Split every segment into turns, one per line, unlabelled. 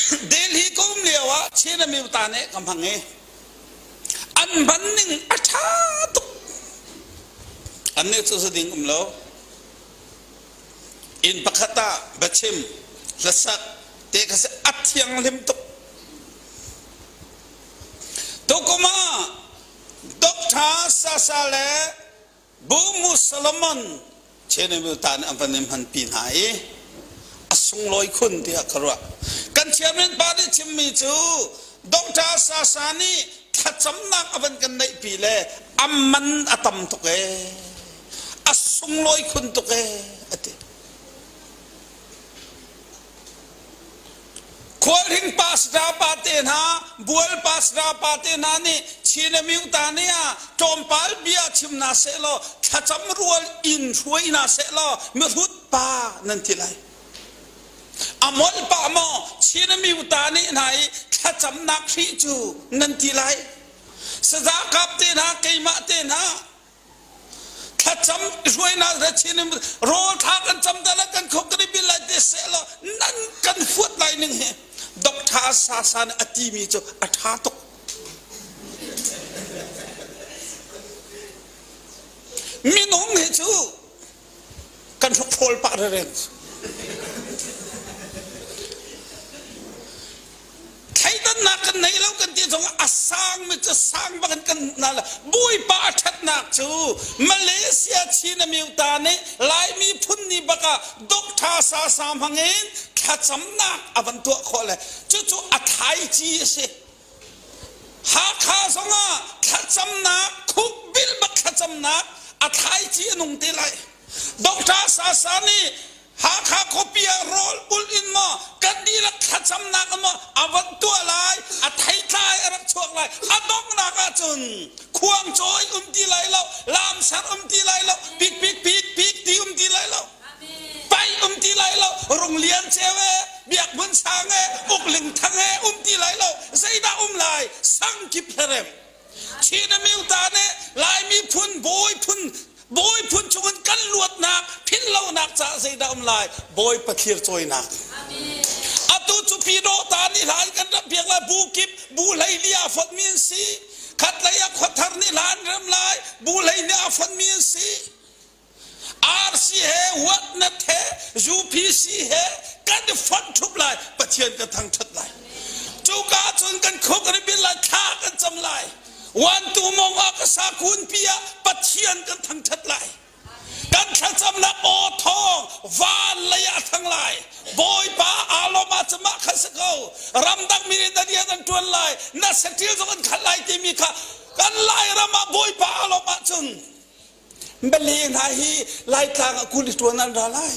Delhi kum lio ah Chin Amyuta nih ka hmang i an hman ning a ṭha tuk. Annih cu su ding um lo. Inn pakhat ah biachim, hlasak te ka si a thianghlim tuk. Tukum ah Dr. Sasa le Bu Mu Solomon Chenemil ta nih an van in hmanpi hna i a sunglawi khun tiah ka ruah. Kan chairman pa nih chimmi cu Dr. Sasa nih thlacamnak a van kan neihpi le a man a tam tuk e, a sunglawi khun tuk e, a ti. Khualhring pastor pate hna, bual pastor pate hna nih Chin a myu ta ne ah tlawmpal bia chim na seh law thlacam rual in hruai na seh law mihrut pa nan ti lai. A mol pa maw Chin a myu ta ne hna i thlacamnak hri cu nan ti lai. Saza kap te hna, keimah te hna thlacam hruainak le chin in rawl thak an cam da la kan khok kan i bil lai te se lo nan kan huat lai ning hi doctor sa sa nih a ti mi cu a tha tuk minung hi cu kan hrawkhrol pah reren thleidannak kan nei lo kan ti zong a sangmi cu sang bak in kan hmuh hna bawipa a ṭhatnak cu Malaysia Chin Amyuta nih Laimi phun ni bak ah Doctor Sa Sa hmangin thlacamnak a van tuah khawh le cucu a thlaici a si Hakha zong ah thlacamnak, khukbilmak thlacamnak a thlaici a nung te lai. Doctor Sasa nih Hakha khuapi ah rawl ulh in maw kan dihlak thlacamnak in maw a van tuah lai, a theitlai a rak chuak lai. A donghnak ahcun khuangcawi um ti lai lo, lamsar um ti lai lo, pik pik pik pik ti um ti lai lo. Pai um ti lai lo, Rung Lian Ceu e, Biak Hmun Sang e, Uk Ling Thang e um ti lai lo, zeidah um lai, sang kip hlerem. Chin a mil ta nih Laimi phun bawi phun bawi phun chungin kan luatnak philhlonak caah zeidah um lai bawi pathlir cawinak atu cu pino ta nih hla in kan ram piak lai bu kip bu hlei li a fonmi an si khat lei a khuathar nih hla an rem lai bu hlei nih a fonmi an si RC he whatnot he UPC he kan i fonh thup lai Pathian kan thangthat lai cuka cun kan khuk ribin lai thla kan cam lai wantu mong ah ka sa kun pi ah Pathian kan thangthat lai kan thlacamnak aw thawng van lei ah thang lai bawipa aloma cama khan sa ko ramdang mi nih dadian an tuan lai na satil zong an khat lai timi kha kan lai ram ah bawipa aloma cun Bali hna hi Laitlang ah kun ṭuan an ra lai.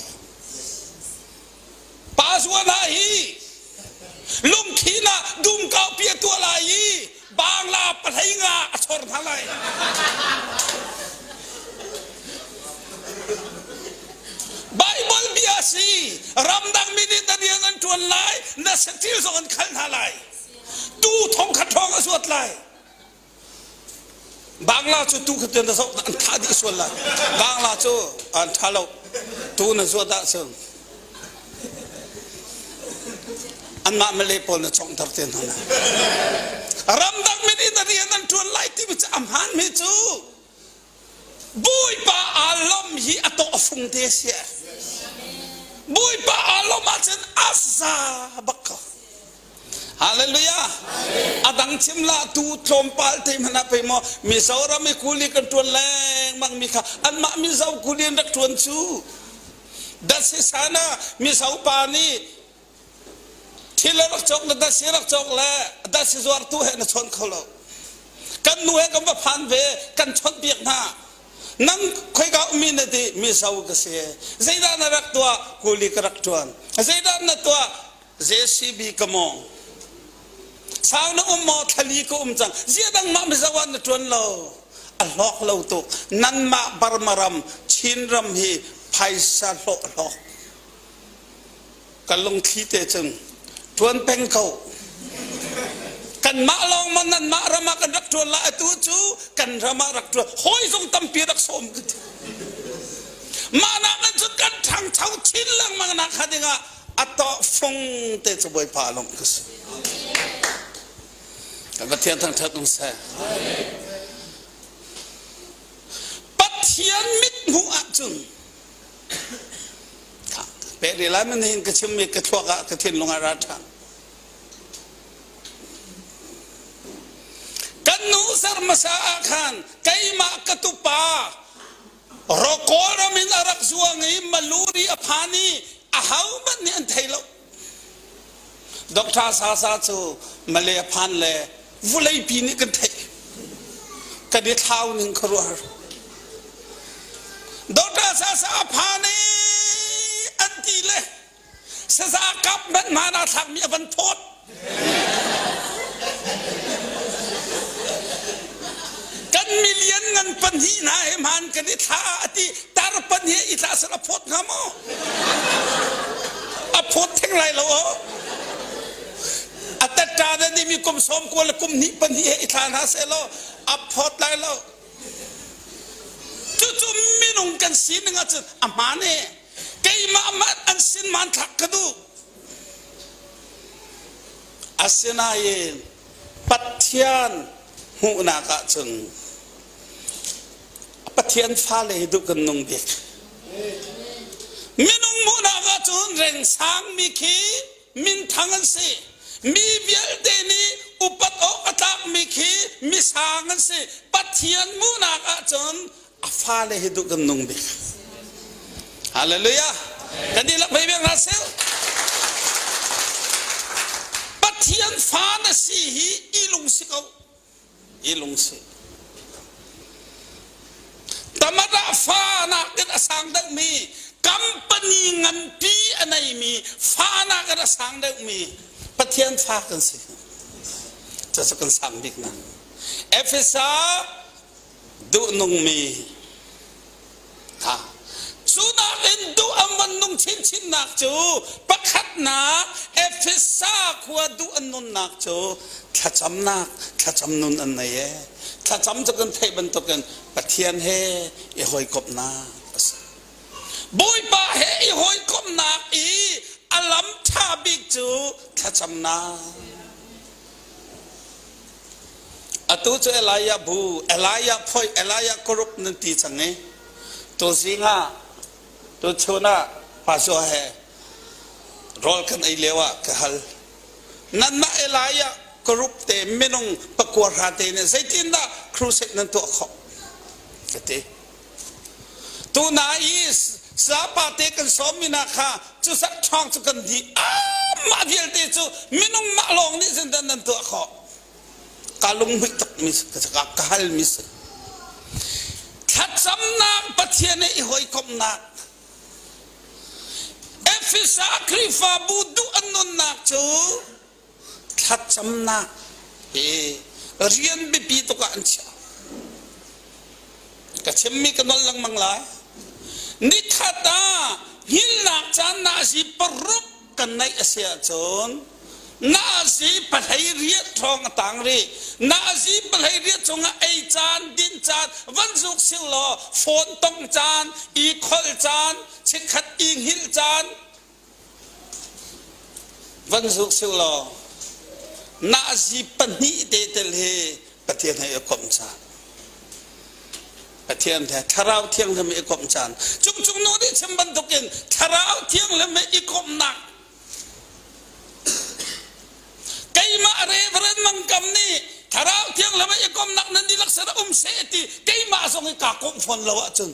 Pasua hna hi lungthin ah dum kaupi a tuah lai i bangla pahlei nga a chor hna lai. Bible bia si ramdang mi nih na rian an ṭuan lai na satil zong an khal hna lai tu thong khat hrawng a zuat lai Bangla cu tu khatin na zoh an thah dih sual lai. Bangla cu an tha lo. Tu na zuat ah cun anmah Malay pawl na chawng thar te hna. Ramdang mit in rian an tuan lai timi cu a hmaan mi cu Bawipa aa lam hi a tawhfung te a si. Bawipa aa lom ahcun afza bak ko. Hallelujah. A dang chim la tu tlawmpal te hman ah pei maw Mizoram i kuli kan tuan lengmang mi kha anmah Mizo kuli an rak tuan cu. Datsi sana Mizo pa nih Thil le rak cawk le dasi rak cawk le dasi zuartu he na chawn kho lo. Kan nu he kan va phan ve kan chawnh piak hna. Nam khoika ummi na ti mi sau ka si. Zeidah na rak tuah kuli ka rak tuan. Zeidah na tuah JCB ka mong. Sau na um maw thlali ka um cang. Zia dang mah mizawan na tuan lo. A hlok lo tu. Nan mah barmaram Chin ram hi phaisa hlawh hlawk. Ka lungthli te cun ṭuan peng ko. Kanmah lawng maw nanmah ram ah kan rak ṭuan la atu cu kan ram ah rak ṭuan hawi zong tampi rak sawm ka ti. Mah nak nan cun kan ṭhangcho chin lengmang nak hnga dingah a tawh fung te cu bawipa lawng ka si. Ka Pathian thangṭhat um seh. Pathian mithmuh ah cun Peh rih lai man hin ka chim mi ka thluak ah ka thinlung ah ra ṭhan. Kan nu sar hmasa ah khan keimah ka tupa Rokawl ram in a rak zuang i maluri a phan i a ho hmanh nih an thei lo. Doctor Sasa cu Malay phan le vuleipi nih kan theih. Kan i thlau ning ka ruah. Doctor Sasa phan i an ti le saza government man a thlakmi a van thawt. Kan million ngan pahnih hna he hmaan kan i thla a ti tar pahnih i tla sal a phawt hnga maw? A phawt theng lai lo aw. A tatta na nih mi kum sawm kual le kum hnih pahnih he i thla hna seh law a phawt lai lo. Cucu minung kan sining ahcun a hmaan e. Keimah mah an sin hmaan thlak ka duh. Asinain Pathian hmuhnak ah cun Pathian fale hi duh kan nung bik. Minung hmuhnak ah cun rengsangmi khi minthang an si. Mi vialte nih upat awk a tlakmi khi misang an si. Pathian hmuhnak ah cun a fale hi duh kan nung bik hallelujah kan dihlak hmei bek hna seh pathian fa na si hi i lung si ko i lung si tamara fa nakin a sang deuhmi company nganpi a neimi fa nakin a sang deuhmi pathian fa kan si cucu kan sang bik na efesa duhnungmi hna cu nakin duh an van nung chinchinnak cu pakhatnak Efesa khua duh an nunnak cu thlacamnak thlacam nun an nei e thlacam cu kan theih bantukin Pathian he i hawikomhnak a si Bawipa he i hawikomhnak i a lam ṭha bik cu thlacamnak Atu cu Elijah bu, Elijah phoi, Elijah kurup nan ti cang i tu zing ah tu chun ah pastor he rawl kan ei lio ah ka hal. Nanmah Elijah kurup te minung pakua hra te nih zeitindah crusade nan tuah khawh? Ka ti. Tuna i sapa te kan sawmmi hna kha cusak ṭhawng cu kan dih. Mah vialte cu minung mah lawng nih zindan nan tuah khawh. Ka lunghmuih tukmi ka ka halmi si. Thlacamnak Pathian i hawikomhnak. Efesa Khrihfabu duh an nunnak cu thlacamnak hi rian biapi tuk ah an chiah ka chimmi ka nol lengmang lai nithat ah himnak caan na si paruk kan neih a si ahcun na si palhei riat ṭhawng a tang rih na si palhei riat cungah ei caan din caan van zuk sil law phone tong caan i khol caan chikkhat i hngil caan van zuk seh law nahzi pahnih te tel hi Pathian he i komh caan Pathian he thlarau thianghlim i komh caan cung cung nu nih chim bantukin thlarau thianghlim he i komhnak keimah reverend mangkam nih thlarau thianghlim i komhnak nan dihlak sara um se ti keimah zong i kaa komh fawn lo ahcun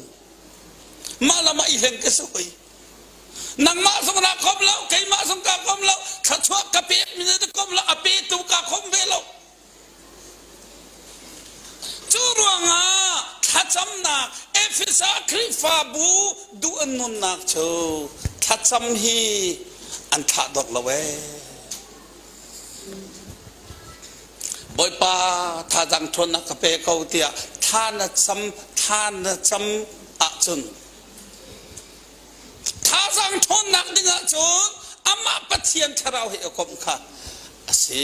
mah lam ah i hleng ka si hoi nangmah zong ra kom lo keimah zong ka kom lo thluachuah ka pek mi na kom lo a petu ka kom ve lo cu ruangah thlacamnak Efesa Khrihfabu duh an nunnak cu thlacam hi an thlah dok lo ee Bawipa thazang thuan na ka pe ko tiah tha na cam tha na cam ahcun Thazaang ṭhawnnak ding ahcun amah Pathian thlarau he i komh kha a si.